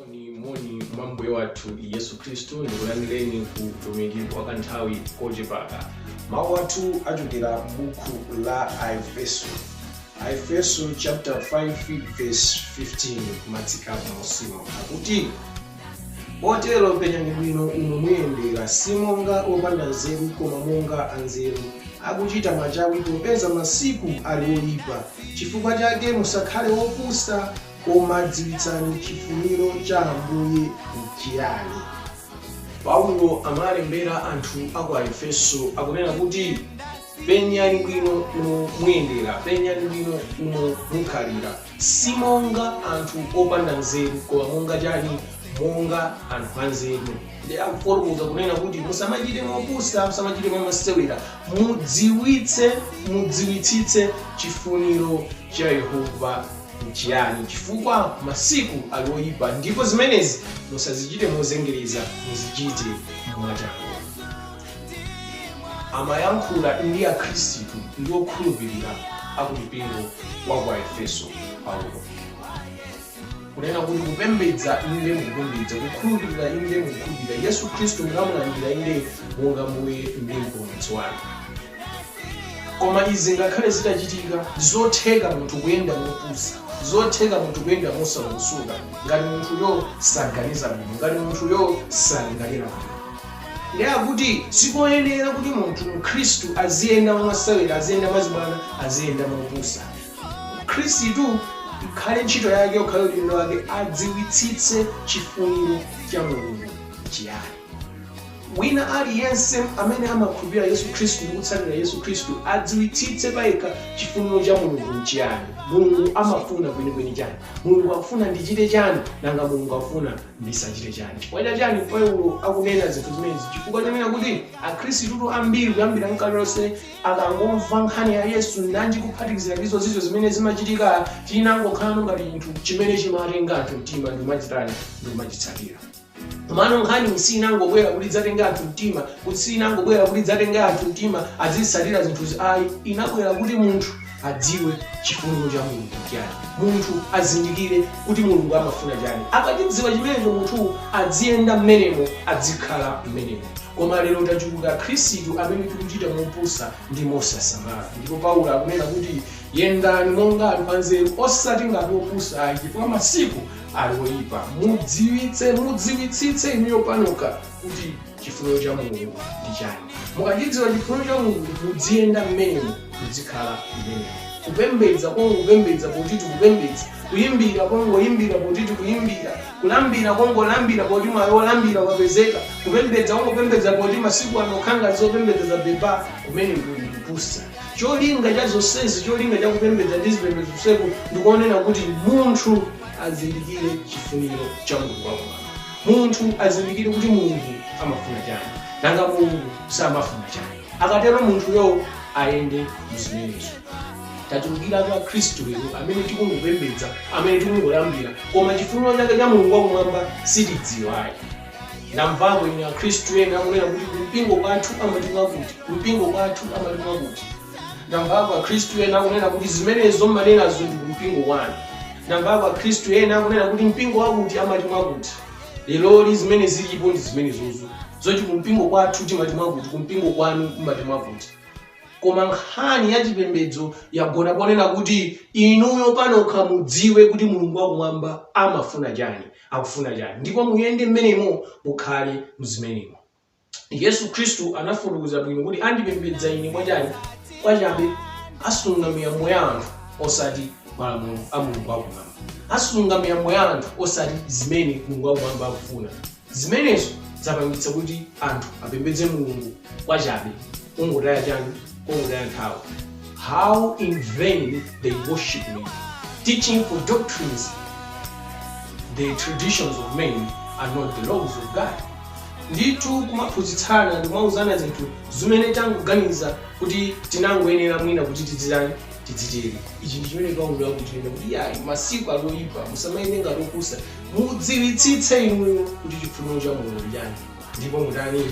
moni moni mwa mbuye wathu yesu khristu ndikulandireni ku utumiki wa kanthawi kochepaka mawu athu achokera m'buku la aefeso aefeso chapter 5 verse 15 kumatsika m'musimu akuti potero penyani bwino umo muyendera si monga opanda nzeru koma monga anzeru akuchita machawi popeza masiku ali oyipa chifukwa chake musakhale opusa Koma dziwitsani chifuniro cha Ambuye nchiyani. Paulo amalembera anthu a ku Aefeso akunena kuti, Penyani bwino umo muyendera, penyani bwino umo mukhalira, si monga anthu opanda nzeru, koma monga chani? Monga anthu anzeru. Ndiye akufotokoza kunena kuti musamachite mopusa, musamachite mwamasewera, mudziwitse, mudziwitsitse chifuniro cha Yehova. N'chiyani? Chifukwa masiku ali oyipa ndipo zimenezi musazichite mozengereza, muzichite mwachangu. Amayankhula ndi Akhristu ndi okhulupirira a ku mpingo wa ku Aefeso Paulo. Kunena kuti kupembedza, inde mukupembedza, kukhulupirira, inde mukukhulupirira, Yesu Khristu munamulandira, inde monga Mbuye ndi Mpulumutsi wanu. Koma izi ngakhale zitachitika, ndizotheka munthu kuyenda mopusa, zotheka munthu kuyenda mosalongosoka ngati munthuyo saganiza bwino, ngati munthuyo salingalira bwino. Ndiye akuti sikoyenera kuti munthu Mkhristu aziyenda mwamasewera, aziyenda mwazibwana, aziyenda mopusa. Mkhristu ikhale ntchito yake, ukhale udindo wake, adziwitsitse chifuniro cha Mulungu chiyani. Wina aliyense amene amakhulupirira Yesu Khristu ndi kutsatira Yesu Khristu adziwitsitse payekha chifuniro cha Mulungu nchiyani. Mulungu amafuna kwenikweni chani? Mulungu akufuna ndichite chani? Nanga Mulungu akufuna ndisachite chani? Chifukwa cha chani Paulo akunena zinthu zimenezi? Chifukwa chonena kuti Akhristutu ambiri kuyambira nkale lonse akangomva nkhani ya Yesu nanji kuphatikizira ndi zozizwa zimene zimachitika chinangokhalano ngati chinthu chimene chimatenga anthu mtima ndi kumachitani ndi kumachitsatira. Komano nkhaniyi siinangobwera kuti idzatenge anthu mtima, kuti siinangobwera kuti idzatenge anthu mtima azitsatira zinthuzi ayi. Inabwera kuti munthu adziwe chifuniro cha Mulungu n'chiyani. Munthu azindikire kuti Mulungu amafuna chani. Akachidziwa chimenecho munthu aziyenda mmenemo, azikhala mmenemo. Koma lero tachuluka Akhristu amene tikuchita mopusa ndi mosasamala. Ndipo Paulo akunena kuti, Yendani monga anthu anzeru, osati ngati opusa ayi, chifukwa masiku ali oyipa mudziwitse mudziwitsitse inuyo panokha kuti chifuniro cha mulungu ndi chani mukachidziwa chifuniro cha mulungu mudziyenda mmenemo mudzikhala mmenemo kupembedza kongopembedza poti tikupembedza kuyimbira kongoyimbira poti tikuyimbira kulambira kongolambira poti mwayi wolambira wapezeka kupembedza kongopembedza poti masiku ano khanga zopembedza za beba kumene kuli kupusa Cholinga cha zonsezi, cholinga cha kupembedza ndi zipembedzo zonseku ndikonena kuti munthu azindikire chifuniro cha Mulungu wakumwamba. Munthu azindikire kuti Mulungu amafuna chani, nanga Mulungu samafuna chani. Akatero munthuyo ayende muzimenezo. Tachulukiratu a khristu lero amene tikungopembedza, amene tikungoyimbira koma chifuniro chake cha Mulungu wakumwamba sitidziwa ayi. ndamvako ine akhristu ena akunena kuti kumpingo kwathu amati mwakuti kumpingo kwathu amati mwakuti ndamvako akhristu ena akunena kuti zimenezo mmanenazo ndi kumpingo kwanu ndamvako akhristu ena akunena kuti mpingo wakuti amati mwakuti leroli zimene zilipo ndi zimenezozo zoti kumpingo kwathu timati mwakuti kumpingo kwanu kumati mwakuti koma nkhani ya chipembedzo yagona ponena kuti inuyo panokha mudziwe kuti mulungu wakumwamba amafuna chani akufuna chani ndipo muyende mmenemo mukhale mzimenemo yesu khristu anafotokoza bwino kuti andipembedza ine mwachani kwachabe asunga miyambo ya anthu osati malamulo a mulungu akumwamba asunga miyambo ya anthu osati zimene mulungu akumwamba akufuna zimenezo zapangitsa kuti anthu apembedze mulungu kwachabe kungotaya chani Konzani nthawi. How in vain they worship me, teaching for doctrines the traditions of men and not the laws of God. Ndithu kumaphunzitsana ndikumauzana zinthu zimene tangoganiza kuti tinangoyenera mwina kuti tidzitani tidzitere ichi ndi chimene paulo akunena kuti yayi masiku ali oyipa musamayende ngati opusa mudziwitsitse inuyo kuti chifuniro cha mulungu nchani ndipo mutani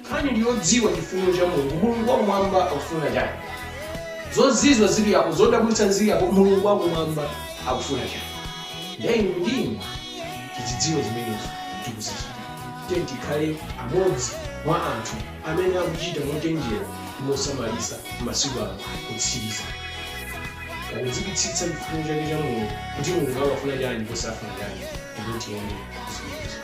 Nkhani ndi yodziwa chifuniro cha Mulungu. Mulungu wakumwamba akufuna chani? Zozizwa zili apo, zodabwitsa zili apo, Mulungu wakumwamba akufuna chani? Ndiye inu ndi ine tizidziwe zimenezo ndikuzichita. Tiyeni tikhale amodzi mwa anthu amene akuchita mochenjera ndi mosamalitsa m'masiku ano otsiriza, pakudziwitsitsa chifuniro chake cha Mulungu, kuti Mulungu amafuna chani ndipo safuna chani, ndipo tiyende mzimenezo.